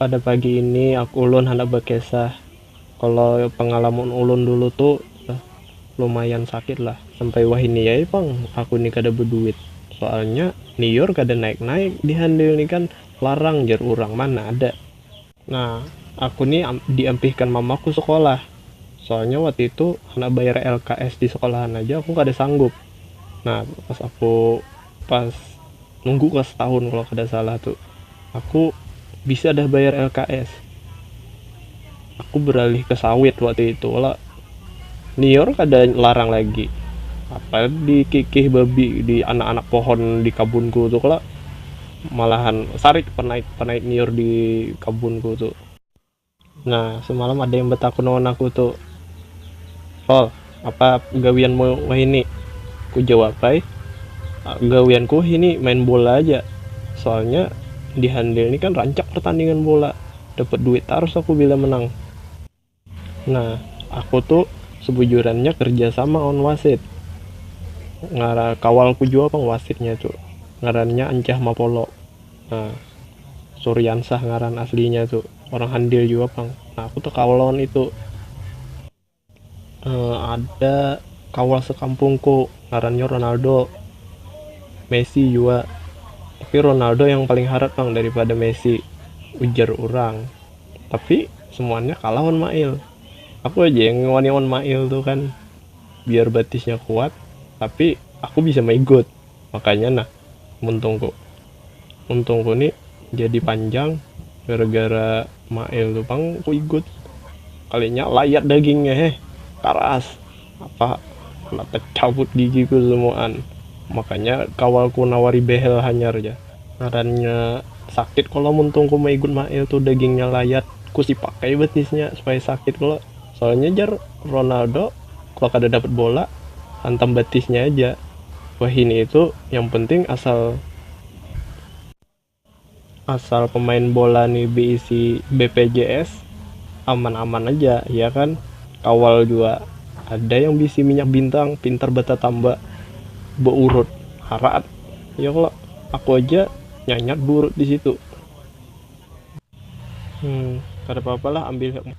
Pada pagi ini ulun handak bakesah kalo pangalamun ulun dulu tu lumayan sakit lah sampai wahini ai pang aku ni kada baduit soalnya niur kada naik naik di handil ni kan larang jar urang mana ada nah aku ni di ampihkan mama ku sekolah soalnya waktu itu handak bayar lks di sekolahan aja aku kada sanggup nah pas aku. Pas nunggu kelas setahun kalau kada salah tu, aku bisa dah bayar LKS. Aku beralih ke sawit waktu itu kalo liur kada larang lagi. Apa dikikih babi di anak-anak pohon di kabunku tu kalo, malahan sarik panaik-panaik liur di kabunku tu. Nah, semalam ada yang batakun lawan aku tu, Fal, apa gawianmu wahini? Kujawab ai, gawianku wahini main bola aja, soalnya di Handil ni kan rancak pertandingan bola, dapat duit tarus aku bila menang. Nah, aku tu sebujurannya kerja sama lawan wasit, kawalku jua pang wasitnya tu, ngarannya Ancah Mapolo. Nah, Suriansah ngaran aslinya tu. Orang Handil jua pang. Nah, aku tekaul lawan itu. Uh, ada kaul sekampungku ngarannya Ronaldo. Messi jua. Tapi Ronaldo yang paling harat pang daripada Messi. Ujar orang. Tapi semuanya kalah on Mail. Aku aja yang ngewani on Mail tu kan. Biar batisnya kuat. Tapi aku bisa maigut. Makanya nah. muntungku muntungku ni jadi panjang gara-gara Mail tu pang ku igut kalinya layat dagingnya heh karas apa handak tacabut gigiku semuaan makanya kawalku nawari behel hanyar ja ngarannya sakit kalo muntungku maigut Mail tu dagingnya layat ku sipak ai batisnya supaya sakit kalo. Soalnya jar Ronaldo kalo kada dapat bola hantam batisnya aja wahini itu yang penting asal asal pemain bola nih beisi bpjs aman-aman aja ya kan kawal jua ada yang beisi minyak bintang pintar batatamba beurut haraat ya kalo aku aja nyanyak beurut disitu hmm kada papa lah ambil hikmah.